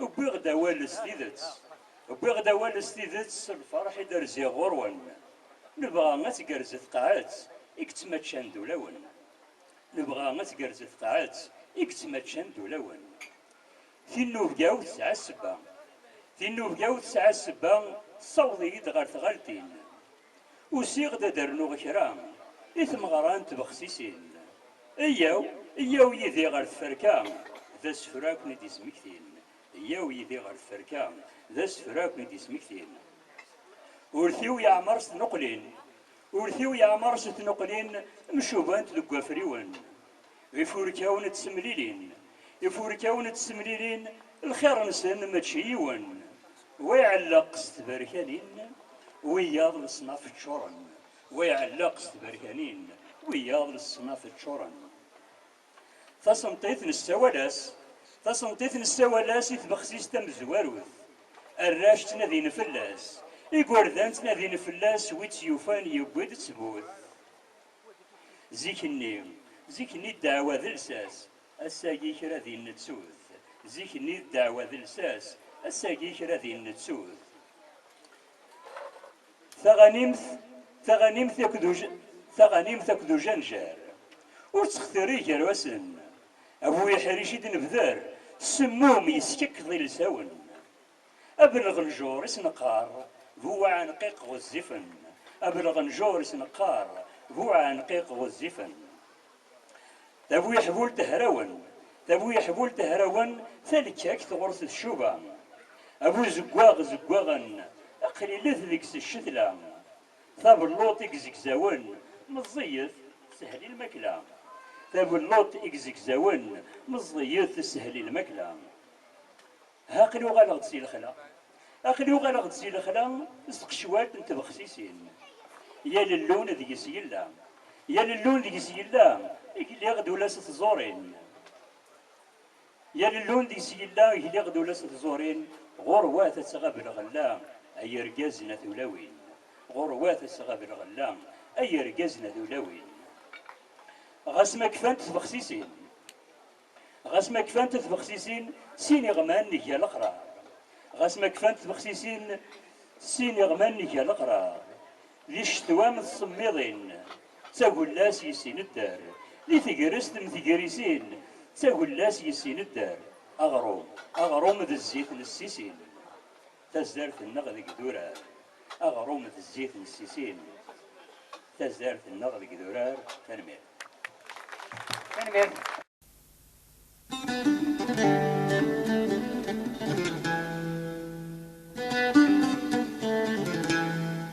Wwiɣ-d awal s tidet, wwiɣ-d awal s tidet s lferḥ i d-rziɣ ɣur-wen. Nebɣa ad tgerrez tqaɛet i yettmaččan d ulawen. Nebɣa ad tgerrez tqaɛet i yettmaččan d ulawen. Tinnubga-w tesɛa ssebba. Tinnubga-w tesɛa ssebba tessaweḍ-iyi-d ɣer tɣaltin. Usiɣ-d ad d-rnuɣ kra i tmeɣra n tbexsisin. Eyyaw, eyyaw yid-i ɣer tferka, d asefru ad ken-id-yesmektin. Eyyaw yid-i ɣer tferka, d asefru ad ken-id-yesmektin. Urti-w yeɛmer s tnuqlin, urti-w yeɛmer s tnuqlin mcubant deg wafriwen. d ifurkawen d temlilin. Ifurkawen d temlilin lxir-nsen mačči yiwen, wa iɛelleq s tberkanin, wiyaḍ leṣnaf ččuren, wa iɛelleq s tberkanin, wiyaḍ leṣnaf ččuren. Tasenṭit nessawal-as Tasenṭit nessawal-as i tbexsist tamezwarut. Arrac ttnadin fell-as, igerdan ttnadin fell-as, wi tt-yufan yewwi-d ttbut. Zik-nni, zik-nni ddeɛwa d lsas, ass-agi kra din nettut. Zik-nni ddeɛwa d lsas, ass-agi kra din nettut. Taɣanimt, taɣanimt akked uj, taɣanimt akked ujanjar ur ttextiri gar-asen. A bu iḥric i d-nebder, semmum yeskekkeḍ ilsawen. Abelɣenǧur i s-neqqar bu uɛenqiq ɣezzifen Abelɣenǧur i s-neqqar bu uɛenqiq ɣezzifen Tabuyeḥbult hrawen Tabuyeḥbult hrawen Talekkakt ɣur-s tcuba Abuzeggaɣ zeggaɣen Aqlilet deg-s ccetla Tabelluṭ i izegzawen Meẓẓiyet teshel i lmakla Tabelluṭ i izegzawen Meẓẓiyet teshel i lmakla. Aql-i uɣaleɣ-d si lexla. Aql-i uɣaleɣ-d si lexla s tqecwalt n tbexsisin. Yal llun deg-s yella. Yal llun deg-s yella, gliɣ-d ula s tẓurin. Yal llun deg-s yella, gliɣ-d ula s tẓurin, ɣur-wat ad tɣab lɣella, ay irgazen a tulawin. Ɣur-wat ad tɣab lɣella, ay irgazen a tulawin. Ɣas ma kfant tbexsisin. Ɣas ma kfant tbexsisin sin iɣman nga leqrar. Ɣas ma kfant tbexsisin sin iɣman nga leqrar. Di ccetwa m tsemmiḍin, d tagella-s yessin dder. Di tegrest m tegrisin, d tagella-s yessin dder. Aɣrum, aɣrum d zzit n ssisin. Tazart-nneɣ deg durar, aɣrum d zzit n ssisin. Tazart-nneɣ deg durar, tanemmirt. Tanemmirt.